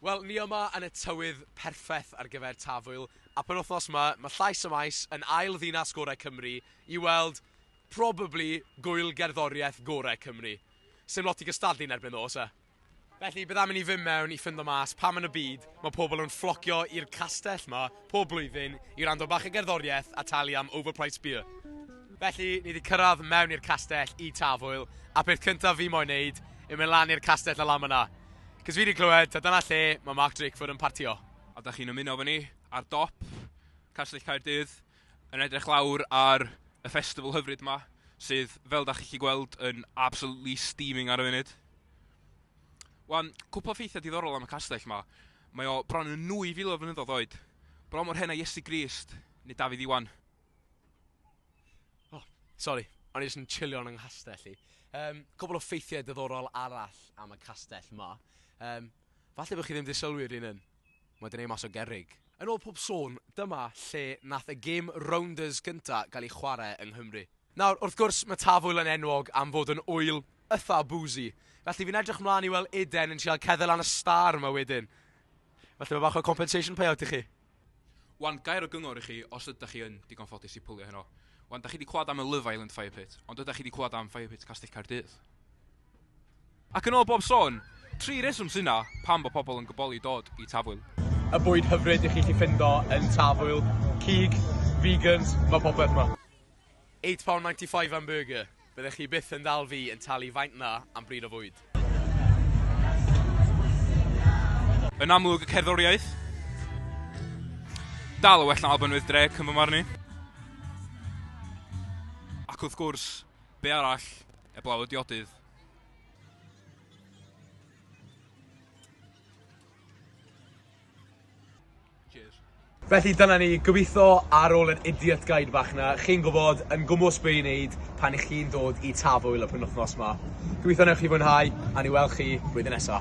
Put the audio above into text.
Wel, ni yma yn y tywydd perffeth ar gyfer Tafwyl, a penwythnos 'ma, mae Llais y Maes yn ail ddinas gorau Cymru i weld probably gŵyl gerddoriaeth gorau Cymru. Sdim lot i gystadlu yn erbyn ddo, oes e? Felly, bydd am i ni fynd mewn i ffindo mas pam yn y byd mae pobl yn fflocio i'r castell 'ma, pob blwyddyn i wrando bach o gerddoriaeth a talu am overpriced beer. Felly, ni wedi cyrraedd mewn i'r castell i Tafwyl, a peth cyntaf fi moyn neud yw mynd lan i'r castell a lan yna. Cys fi wedi clywed, ta dyna lle mae Mark Drakeford yn partio. A da chi'n ymuno efo ni ar dop Castell Caerdydd yn edrych lawr ar y festival hyfryd ma, sydd, fel da chi'n chi gweld, yn absolutely steaming ar y funud. Wan, cwpl o ffeithiau diddorol am y castell yma. Mae o bron yn 2000 o flynyddoedd oed. Bron mor hen a Iesu Grist, neu Dafydd Iwan. Oh, sori, o'n i jyst yn chilio yn yng nghastell i. Um, cwbl o ffeithiau diddorol arall am y castell ma. Um, falle bod chi ddim wedi sylwi rhywun yn. Mae dyn ei mas o gerig. Yn ôl pob sôn, dyma lle nath y gêm Rounders gynta gael ei chwarae yng Nghymru. Nawr, wrth gwrs, mae Tafwyl yn enwog am fod yn ŵyl itha boozy, felly fi'n edrych mlan i weld Eden yn trial cedde lan y stâr 'ma wedyn. Falle bod bach o compensation payout i chi. Wan gair o gyngor i chi os ydach chi yn digon ffodus i pwlio heno. Wan, dach chi 'di clywad am y Love Island Fire Pit, ond ydach chi 'di clywad am Fire Pit Castell Caerdydd? Ac yn ôl bob sôn, tri reswm sy 'na pam bod pobl yn gyboli dod i Tafwyl. Y bwyd hyfryd i chi 'llu ffindo yn Tafwyl, cig, vegans, mae popeth 'ma. Eight pound ninety five am burger. Byddech chi byth yn dal fi yn talu faint 'na am bryd o fwyd. Yn amlwg y cerddoriaeth. Dal yn well na Alban with Drake yn fy marn i. Ac wrth gwrs, be' arall, eblaw y diodydd. Felly dyna ni, gobeithio ar ôl yr idiot guide bach 'na, chi'n gwybod yn gwmws be' i wneud pan 'ych chi'n dod i Tafwyl y penwythnos 'ma. Gobeithio wnewch chi fwynhau, a ni wel' chi blwyddyn nesa.